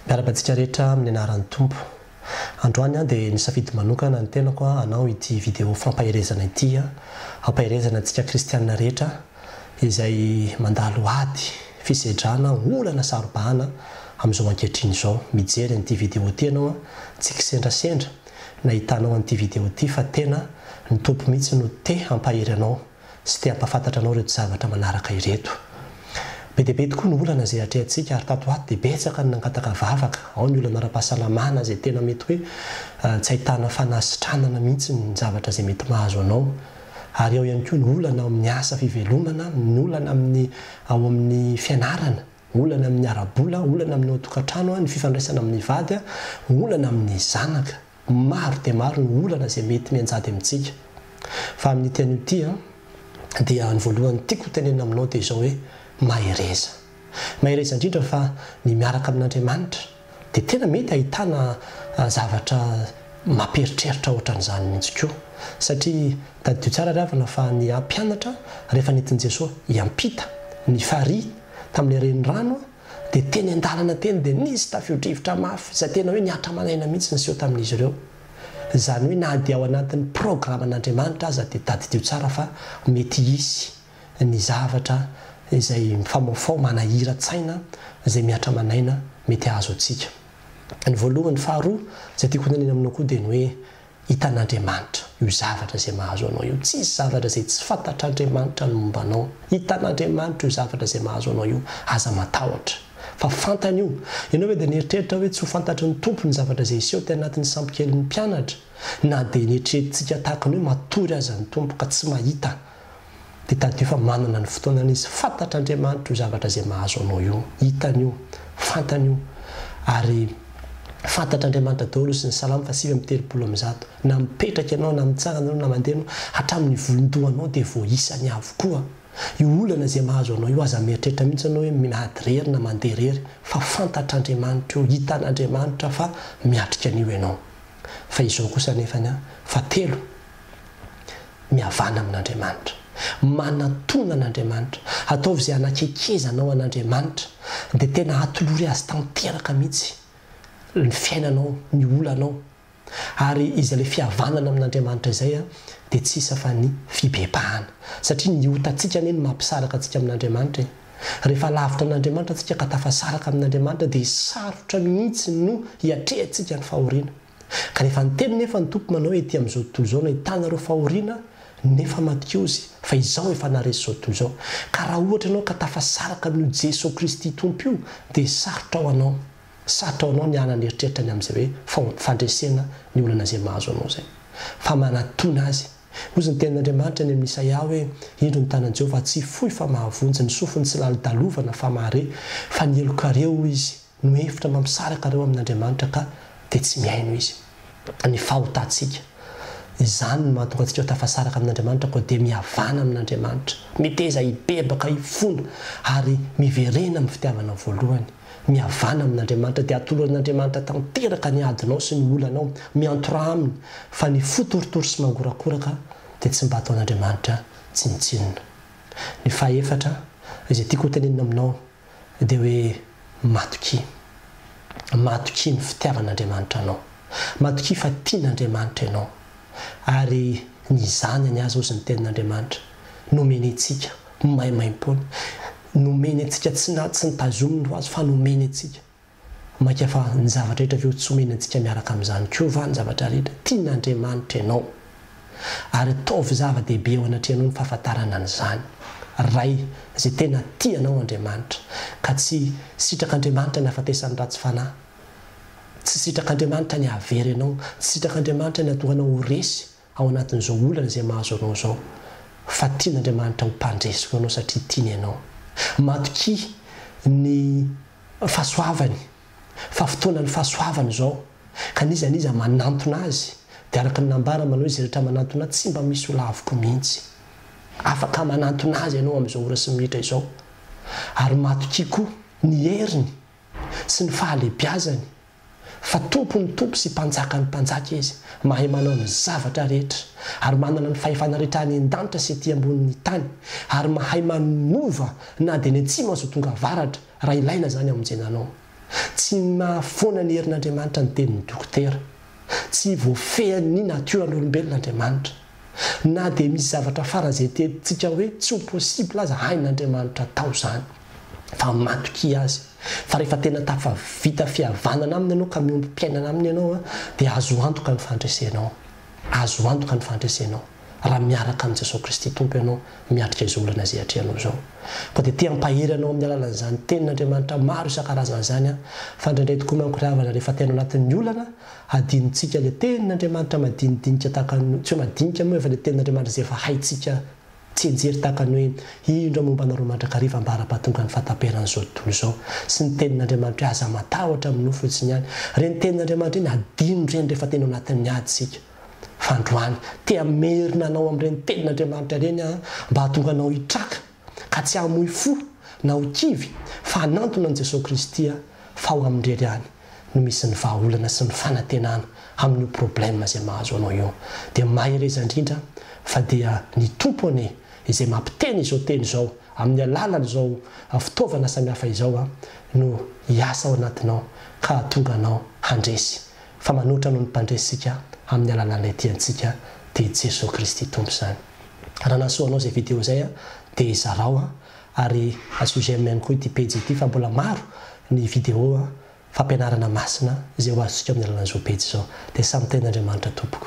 Miaraba antsika rehetra amin'ny anaran'ny Tompo. Androany aho dia nisafidy manokana ny tenako hanao ity video fampaherezana ity hampaherezana antsika kristiana rehetra izay mandalo ady, fisedrana, olana, sarobahana amin'izao ankehitriny izao. Mijery an'ity video ity ianao tsy kisendrasendra nahitanao an'ity video ity fa tena ny Tompo mihitsy no te hampahery anao. sy te hampahafantatra anao ireto zavatra manaraka ireto. Be dia be tokoa ny olana izay atrehantsika ary tato ho ato dia betsaka ny nangataka vavaka, ao ny olana ara-pahasalamana izay tena mety hoe tsy ahitana fanasitranana mihitsy ny zavatra izay mety mahazo anao ary ao ihany koa ny olana ao amin'ny asa fivelomana, ny olana amin'ny ao amin'ny fianarana. Olana amin'ny ara-bola, olana amin'ny ao an-tokantrano, ny fifandraisana amin'ny vady, olana amin'ny zanaka. Maro dia maro ny olana izay mety mianjady amintsika. Fa amin'ity anio ity dia ny voalohany tiako ho tenenina aminao dia izao hoe, mahereza. Mahereza indrindra fa ny miaraka amin'Andriamanitra. Dia tena mety ahitana zavatra mampieritreritra ohatran'izany mihitsy koa. Satria tadidio tsara ry havana fa ny mpianatra rehefa nentin'i Jesoa hiampita ny farihy tamin'ilay renirano dia teny an-dalana teny dia nisy tafio-drivotra mafy izay tena hoe nihatra aman'aina mihitsy niseho tamin'izy ireo. Izany hoe na dia ao anatin'ny programan'Andriamanitra aza dia tadidio tsara fa mety hisy. ny zavatra izay mifaomafaoa manahiran-tsaina izay mihatra aman'aina mety hahazo antsika. Ny voalohany, ny faharoa izay tiako honenana aminao koa dia ny hoe hitan'Andriamanitra io zavatra izay mahazo anao io. Tsy hisy zavatra izay tsy fantatr'Andriamanitra ny momba anao. Hitan'Andriamanitra io zavatra izay mahazo anao io. Aza matahotra fa fantany io. Ianao ve dia nieritreritra hoe tsy ho fantatry ny Tompo ny zavatra izay hiseho teny anatin'ny sampy kelin'ny mpianatra? Na dia neritreretintsika tahaka ny hoe matory aza ny Tompo ka tsy mahita, Dia tadidio fa manana ny fotoanany izy. Fantatr'Andriamanitra io zavatra izay mahazo anao io. Hitany io. Fantany io. Ary fantatr'Andriamanitra daholo izy. Ny Salamo fahasivy amby telopolo amby zato. Na mipetraka ianao, na mitsangana ianao, na mandeha ianao, hatramin'ny volon-dohanao dia voaisany avokoa. Io olana izay mahazo anao io, aza mieritreritra mihitsy ianao hoe miady irery na mandeha irery. Fa fantatr'Andriamanitra io. Hitan'Andriamanitra fa miatrika an'io ianao. Fa izao kosa anefany an, fahatelo. Mihavana amin'Andriamanitra. Manatona an'Andriamanitra. Ataovy izay hanakekeza anao an'Andriamanitra. Dia tena atolory Azy tanteraka mihitsy ny fiainanao, ny olanao. Ary iza ilay fihavanana amin'Andriamanitra izay dia tsy isa fa ny fibebahana. Satria ny otantsika anie no mampisaraka antsika amin'Andriamanitra e. Rehefa lavitra an'Andriamanitra tsika ka tafasaraka amin'Andriamanitra dia sarotra mihitsy no hiatrehantsika ny fahoriana. Kanefa niteny nefa ny Tompo manao hoe ety amin'izao tontolo izao nahitanareo fahoriana nefa matikozy fa izao efa naharesy izao tontolo izao. Ka raha ohatra ianao ka tafasaraka amin'io Jeso Kristy Tompo io dia sarotra ho anao sarotra ho anao ny hanana eritreritra ny amin'izay hoe fahon, fandresena ny olana izay mahazo anao izay fa manatona azy. Hoy izy ny tenin'Andriamanitra any amin'ny Isaia hoe indro ny tanan'i Jehovah tsy fohy fa mahavonjy, ny sofiny tsy lalidalovana fa mahare, fa ny helokareo hoy izy, no hevitra mba misaraka ireo amin' Andriamanitra ka dia tsy mihaino Izy. Ny fahotantsika. Izany no mahatonga antsika ho tafasaraka amin' Andriamanitra koa dia mihavana amin' Andriamanitra. Miteza hibebaka hifona ary miverena amin'ny fitiavana voalohany. Mihavana amin' Andriamanitra dia atoloran' Andriamanitra tanteraka ny adinao sy ny olanao. Miantoraha Aminy fa ny fo torotoro sy mangorakoraka dia tsy mba ataon' Andriamanitra tsinontsinona. Ny fahefatra, izay tiako hotenenina aminao. dia hoe matokia. Matokia ny fitiavan'Andriamanitra anao. Matokia fa tian'Andriamanitra ianao. Ary ny Zanany aza, hozy ny Tenin'Andriamanitra, nomeny antsika maimaimpoana. Nomeny antsika, tsy nitazominy ho azy, fa nomeny antsika. Mainka fa ny zavatra rehetra ve ho tsy omeny antsika miaraka amin'izany koa va ny zavatra rehetra? Tian'Andriamanitra ianao. Ary ataovy zava-dehibe eo anatrehanao ny fahafantarana an'izany. Ray izay tena tia anao Andriamanitra, ka tsy sitrak'Andriamanitra ny hahafatesan'ny ratsy fanahy. Tsy sitrak'Andriamanitra ny hahavery anao. Tsy sitrak'Andriamanitra ny hahatonga anao ho resy ao anatin'izao olana izay mahazo anao izao, fa tian'Andriamanitra ho mpandresy ho anao satria tiany ianao. Matokia ny fahasoavany, fa fotoanan'ny fahasoavany izao, ka n'iza n'iza manantona Azy, dia araka ny nambarany manao hoe, Izay rehetra manantona Ahy, tsy mba misy ho laviko mihitsy. Afaka manantona Azy ianao amin'izao ora sy minitra izao, ary matokia koa ny heriny sy ny fahalehibiazany. Fa Tompon'ny tompo sy Mpanjakan'ny mpanjaka Izy, mahay manao ny zavatra rehetra, ary manana ny fahefana rehetra any an-danitra sy ety ambonin'ny tany, ary mahay manova na dia ny atsimo aza ho tonga avaratra, raha ilaina izany hamonjena anao. Tsy mahafoana ny herin'Andriamanitra ny tenin'ny dokotera. Tsy voafehin'ny natioran'olombelona Andriamanitra. Na dia misy zavatra faran'ny izay tetintsika hoe tsy ho possible aza hain'Andriamanitra atao izany. Fa matokia Azy. Fa rehefa tena tafavita fihavanana Aminy ianao ka miombom-piainana Aminy ianao dia azo antoka ny fandresenao. Azo antoka ny fandresenao raha miaraka amin'i Jesoa Kristy Tompo ianao miatrika izao olana izay atrehanao izao. Koa dia te hampahery anao amin'ny alalan'izany Tenin'Andriamanitra maro isan-karazany izany aho. Fa indraindray tokoa manko ry havana rehefa tena ao anatin'ny olana Hadinontsika le tenin' Andriamanitra madinidinika tahaka ny hoe, tsy hoe madinika moa efa le tenin' Andriamanitra izay efa haintsika tsianjery tahaka ny hoe, indro aho momba anareo mandrakariva ambara-pahatonga ny fahataperan' izao tontolo izao. Sy ny tenin' Andriamanitra hoe, aza matahotra amin'ny nofo fotsiny ihany. Ireny tenin' Andriamanitra ireny hadino ireny rehefa tena ao anatin'ny ady isika. Fa androany, te hamerina anao amin'ireny tenin' Andriamanitra ireny aho mba hahatonga anao hitraka. ka tsy hamoy fo na ho kivy fa hanantona an'i Jesoa Kristy aho fa ao Aminy irery ihany no misy ny vahaolana sy ny fanantenana amin'io problème izay mahazo anao io dia mahereza indrindra fa dia ny Tompo anie izay mampiteny izao teny izao amin'ny alalan'izao fitaovana samihafa izao no hiasa ao anatinao ka hahatonga anao handresy fa manoatra noho ny mpandresy isika amin'ny alalan'ilay tiantsika dia i Jesoa Kristy Tompo izany. Raha nahasoa anao izay video izay dia zarao an! ary asio j'aime ihany koa ity pejy ity fa mbola maro ny video fampianarana masina izay ho azontsika amin'ny alalan'izao pejy izao. Dia samy tahin'Andriamanitra tompoko.